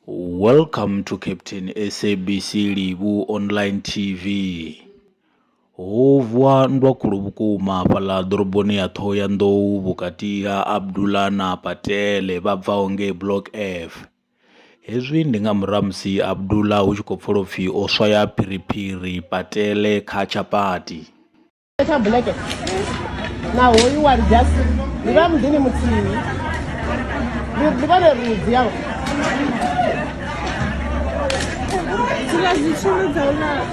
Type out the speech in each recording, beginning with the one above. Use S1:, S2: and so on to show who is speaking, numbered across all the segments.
S1: Welcome to Captain SABC Livhu Online TV. Ho vuwa nndwa khulu vhukuma fhaḽa ḓoroboni ya Ṱhohoyanḓou vhukati ha Abdullah na Patele vha bvaho ngei Block F. Hezwi ndi nga murahu ha musi Abdullah hu tshi khou pfala u pfi o swaya phiriphiri Patele kha tshapati. tsha black
S2: na hoyu wa just ndi vha muḓini muthihi ndi vhone rudzi yao zwiḽa zwitshulu
S1: dza u lala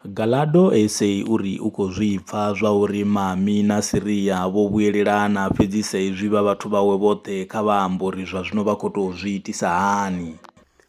S1: Galado SA uri u khou zwi pfa zwa uri Mami na Siria vho vhuyelelana fhedzi sa izwi vha vhathu vhawe vhoṱhe kha vha ambe uri zwa zwino vha khou tou zwi itisa hani.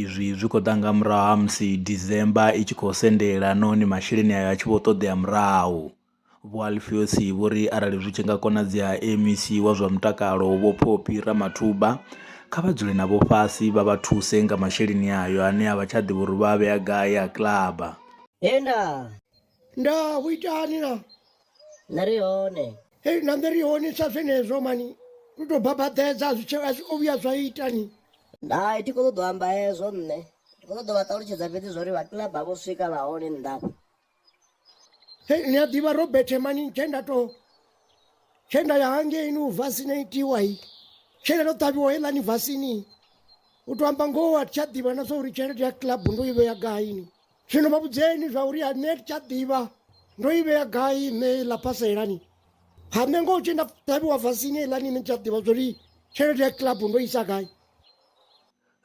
S1: Izwi zwi khou ḓa nga murahu ha musi December i tshi khou sendela nahone masheleni ayo a tshi vho ṱoḓea murahu. Vho Alfios vho ri arali zwi tshi nga konadzea MEC wa zwa mutakalo Vho Phophi Ramathuba kha vha dzule navho fhasi vha vha thuse nga masheleni ayo ane a vha tsha ḓivha uri vha a vhea gai a kilaba. He nda. nda
S2: hu itani na nṋe
S3: ri hone hei na nṋe ri hone
S2: sa zwenezwo mani lu tou babaḓedza a zwi tshe- a zwi o vhuya zwa itani hai thi khou
S3: ṱoḓa u amba hezwo nṋe ndi khou ṱoḓa vha ṱalutshedza fhedzi zwa uri vhakinaba vho swika vha hone nnḓafha
S2: hei ni a ḓivha robert mani tshe nda to tshe nda ya hangeini u vasina itiwa i tshe nda to ṱavhiwa heiḽani vasini u to amba ngoho a thi tsha ḓivha na zwa uri tshelede ya club ndo i vhea gaini Zwino vha vhudzeni zwa uri a nṋe thi tsha ḓivha ndo i vhea gai nṋe ḽa phasa ilani ha nṋe ngo tshi nda ṱavhiwa vasini ilani ni tsha ḓivha zwa uri tshelede ya club ndo isa gai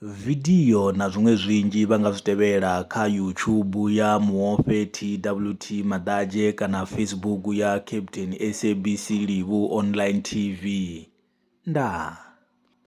S2: Vidio
S1: na zwiṅwe zwinzhi vha nga zwi tevhela kha YouTube ya Muofhe TWT Maḓadzhe kana Facebook ya Captain SABC Livhu Online TV. Ndaa.